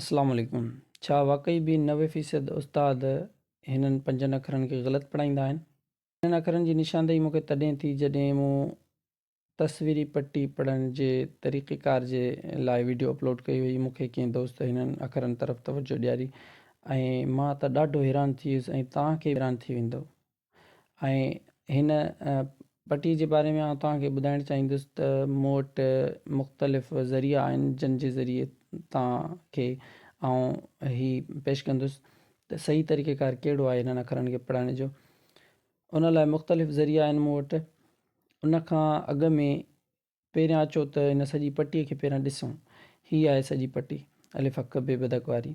السلام عليڪم ڇا واقعي به نوي فيصد استاد هنن پنجن اکرن کي غلط پڙهائيندا آهن؟ هنن اکرن جي نشاندهي مون کي تڏهن ٿي جڏهن مون تصويري پٽي پڙهڻ جي طريقيڪار جي لاء وڊيو اپلوڊ ڪئي هئي مون کي ڪنهن دوست هنن اکرن طرف توجه ڏياري ۽ مان ته ڏاڍو حيران ٿي ويس ۽ توهان کي به حيران ٿي ويندو ۽ هن پٽي جي باري ۾ آئون توهان کي ٻڌائڻ چاهيندس ته مون وٽ مختلف ذريعا آهن جن جي ذريعي توهان کي آئون هي پيش ڪندس ته صحيح طريقه ڪار ڪهڙو آهي هنن اکرن کي پڙهڻ جو ان لاء مختلف ذريعا آهن مون وٽ ان کان اڳ ۾ پهريان اچو ته هن سڄي پٽي کي پهريان ڏسون. هي آهي سڄي پٽي، الف اک بي بدڪ واري.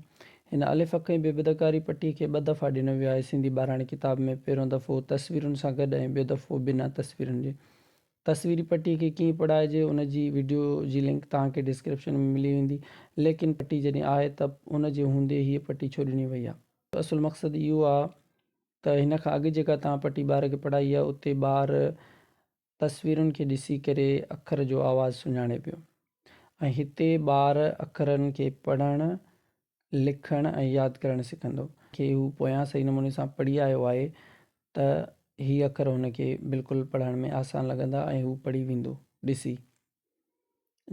هن الف اک ۽ بي بدڪ واري پٽي کي ٻه دفعا ڏنو ويو آهي سنڌي ٻاراڻي ڪتاب ۾، پهريون دفعو تصويرن سان گڏ ۽ ٻيو دفعو بنا تصويرن جي. تصويري پٽي کي ڪيئن پڙهائجي ان جي وڊيو جي لنڪ توهان کي ڊسڪرپشن ۾ ملي ويندي، ليڪن پٽي جڏهن آهي ته ان جي هوندي هيء پٽي ڇو ڏني وئي آهي؟ اصل مقصد اهو آهي ته هن کان اڳ جيڪا توهان پٽي ٻار کي پڙهائي آهي اتي ٻار تصويرن کي ڏسي ڪري اکر جو آواز سڃاڻي پيو ۽ هتي ٻار اکرن کي پڙهڻ، لکڻ ۽ ياد ڪرڻ سکندو. کي هو پويان صحيح نموني سان پڙهي آيو آهي ته هي اکر هن کي بلڪل پڙهڻ ۾ آسان لڳندا ۽ هو پڙهي ويندو. ڏسي.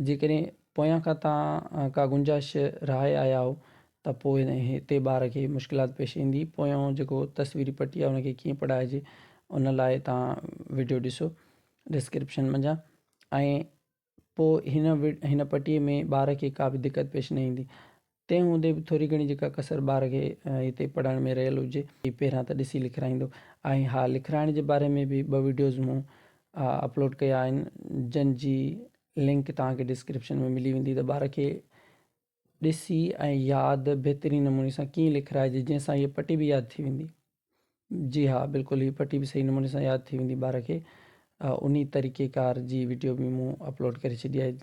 جيڪڏهن پويان کان توهان ڪا گنجائش رهائي آيا آهو ته پوء هتي ٻار کي مشڪلات پيش ايندي پويان جيڪو تصويري پٽي آهي ان کي ڪيئن پڙهائجي ان لاء توهان وڊيو ڏسو ڊسڪرپشن منجهان ۽ پوء هن هن پٽي ۾ ٻار کي ڪا به دقت پيش نه ايندي تنهن هوندي به ٿوري گهڻي جيڪا ڪسر ٻار کي هتي پڙهڻ ۾ رهيل هجي، هي پهريان ته ڏسي لکرائيندو. ۽ ها لکرائڻ جي باري ۾ به ٻه وڊيوز مون اپلوڊ ڪيا آهن، جن جي لنڪ توهان کي ڊسڪرپشن ۾ ملي ويندي ته ٻار کي ڏسي ۽ ياد بهترين نموني سان ڪيئن لکرائجي جنهن سان هيء پٽي به ياد ٿي ويندي. جي ها بلڪل هي پٽي به صحيح نموني سان ياد ٿي ويندي ٻار کي انهي طريقي ڪار جي وڊيو به مون اپلوڊ ڪري ڇڏي آهي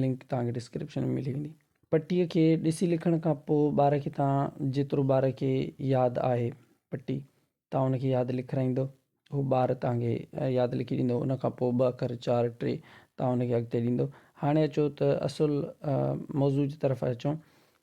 لنڪ توهان کي ڊسڪرپشن ۾ ملي ويندي پٽي کي ڏسي لکڻ کان پوء ٻار کي توهان جيترو ٻار کي ياد آهي پٽي توهان ان کي ياد لکرائيندو هو ٻار توهان کي ياد لکي ڏيندو ان کان پوء ٻه اکر چار ٽي توهان ان کي اڳتي ڏيندو هاڻي اچو ته اصل موضوع جي طرف اچون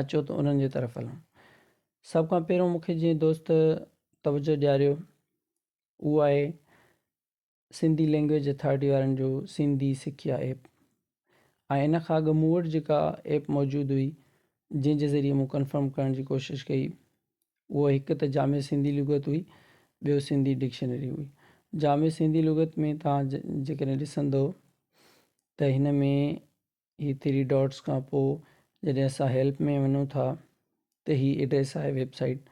اچو ته انهن جي طرف هلون. سڀ کان پهريون مون کي جنهن دوست توجهه ڏياريو اهو آهي سنڌي لينگويج اٿارٽي وارن جو سنڌي سکيا ايپ ۽ ان کان اڳ مون وٽ جيڪا ايپ موجود هئي جنهن جي ذريعي مون ڪنفرم ڪرڻ جي ڪوشش ڪئي اهو هڪ ته جامع سنڌي لغت هئي ٻيو سنڌي ڊڪشنري هئي جامع سنڌي لغت ۾ توهان جيڪڏهن ڏسندو ته هن ۾ هي ٿري ڊاٽس کان پوء جڏهن اسان هيلپ ۾ وڃون ٿا ته هي ايڊريس آهي ويب سائيٽ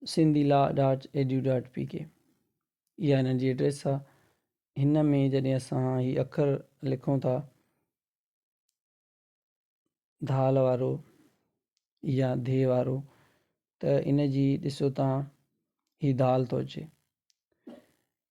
سنڌي لا dot edu dot P K اها هن جي ايڊريس آ هن ۾ جڏهن اسان هي اکر لکون ٿا ڌال وارو يا ڌي وارو ته ان جي ڏسو تان هي ڌال ٿو اچي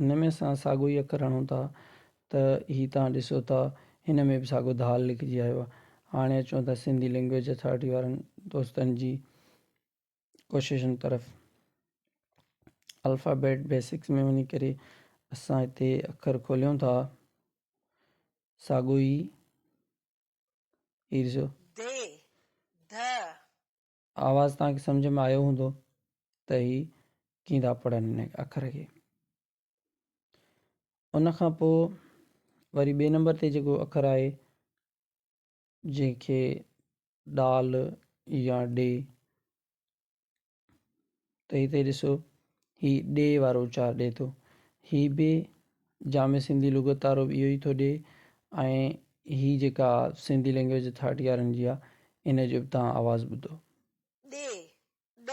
هن ۾ اسان ساڳو ئي اکر هڻون ٿا ته هي توهان ڏسو ٿا هن ۾ به ساڳو ڌال لکجي آيو آهي. هاڻي اچون ٿا سنڌي لينگويج اٿارٽي وارن دوستن جي ڪوششن طرف. الفابيٽ بيسڪس ۾ وڃي ڪري اسان هتي اکر کوليون ٿا ساڳو ئي هي ڏسو. دي، ڌ، آواز توهان کي سمجهه ۾ آيو هوندو ته هي ڪيئن ٿا پڙهن هن اکر کي. ان کان پوء وري ٻئي نمبر تي جيڪو اکر آهي جنهن کي ڊال يا ڊي ته هتي ڏسو هي ڏي وارو اچار ڏي ٿو. هي به جامع سنڌي لغت تارو به اهو ئي ٿو ڏي ۽ هي جيڪا سنڌي لينگويج اٿارٽي وارن جي آهي ان جو به توهان آواز ٻڌو. ڏي، ڏ.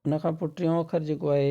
ان کان پوء ٽيون اکر جيڪو آهي.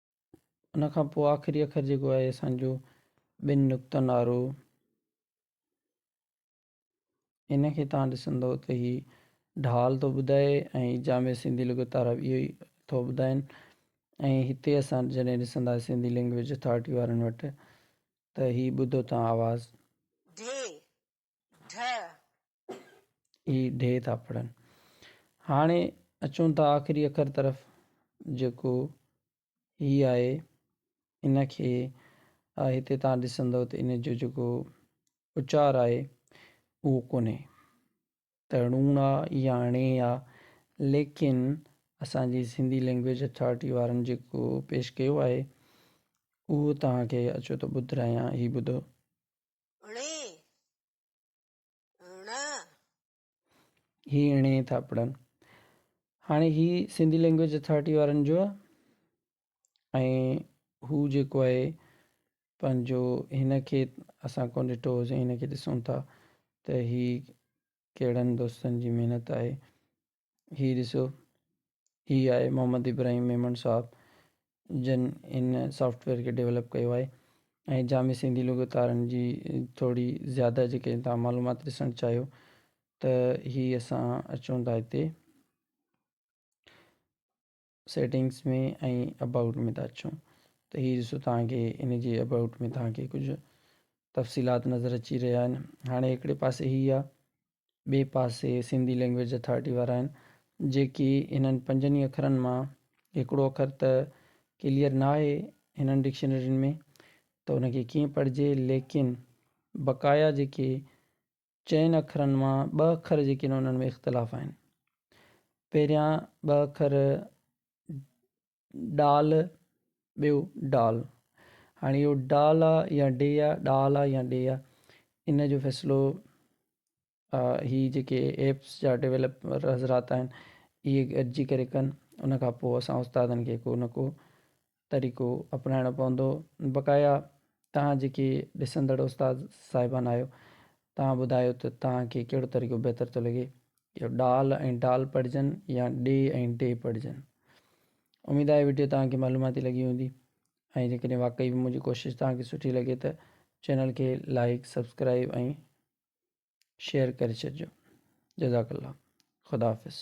ان کان پوء آخري اکر جيڪو آهي اسان جو ٻن نقطن وارو ان کي تان ڏسندو ته هي ڍال ٿو ٻڌائي ۽ جامع سنڌي لغت وارا به اهو ئي ٿو ٻڌائين ۽ هتي اسان جڏهن ڏسندا سنڌي لينگويج اٿارٽي وارن وٽ ته هي ٻڌو تان آواز. ڍي، ڍ. اي ڍ ٿا پڙهن. هاڻي اچون ٿا آخري اکر طرف جيڪو هي آهي ان کي هتي تان ڏسندو ته ان جو جيڪو اچار آهي اهو ڪونهي ته ڙون آ يا ڙين آ ليڪن اسان جي سنڌي لينگويج اٿارٽي وارن جيڪو پيش ڪيو آهي اهو توهان کي اچو ته ٻڌرايان هي ٻڌو. هي اڻي ٿا پڙهن هاڻي هي سنڌي لينگويج اٿارٽي وارن جو آهي ۽ هو جيڪو آهي پنهنجو هن کي اسان ڪون ڏٺو هوسين هن کي ڏسون ٿا ته هي ڪهڙن دوستن جي محنت آهي هي ڏسو هي آهي محمد ابراهيم ميمڻ صاحب جن هن سافٽ ويئر کي ڊيولپ ڪيو آهي ۽ جامع سنڌي لغتارن جي ٿوري زياده جيڪي تان معلومات ڏسڻ چاهيو ته هي اسان اچون ٿا هتي سيٽنگس ۾ ۽ ابائوٽ ۾ ٿا اچون ته هي ڏسو توهان کي ان جي ابائوٽ ۾ توهان کي ڪجهه تفصيلات نظر اچي رهيا آهن هاڻي هڪڙي پاسي هي آهي ٻئي پاسي سنڌي لينگويج اٿارٽي وارا آهن جيڪي هنن پنجن ئي اکرن مان هڪڙو اکر ته ڪليئر نه آهي هنن ڊڪشنرين ۾ ته ان کي ڪيئن پڙهجي ليڪن بقايا جيڪي چئن اکرن مان ٻه اکر جيڪي آهن انهن ۾ اختلاف آهن. پهريان ٻه اکر ڊال ٻيو ڊال هاڻي اهو ڊال آ يا ڊي آ ڏال آ يا ڊي آ ان جو فيصلو هي جيڪي ايپس جا ڊولپر حضرات آهن اهي گڏجي ڪري ڪن ان کان پوء اسان استادن کي ڪو نه ڪو طريقو اپنائڻو پوندو بقايا توهان جيڪي ڏسندڙ استاد صاحبان آهيو توهان ٻڌايو ته توهان کي ڪهڙو طريقو بهتر ٿو لڳي اهو ڊال ۽ ڊال پڙهجن يا ڊي ۽ ڊي پڙهجن اميد آهي وڊيو توهان کي معلوماتي لڳي هوندي ۽ جيڪڏهن واقعي به منهنجي ڪوشش توهان کي سٺي لڳي ته چينل کي لائيڪ سبسڪرائيب ۽ شيئر ڪري ڇڏجو جزاڪ الله خدا حافظ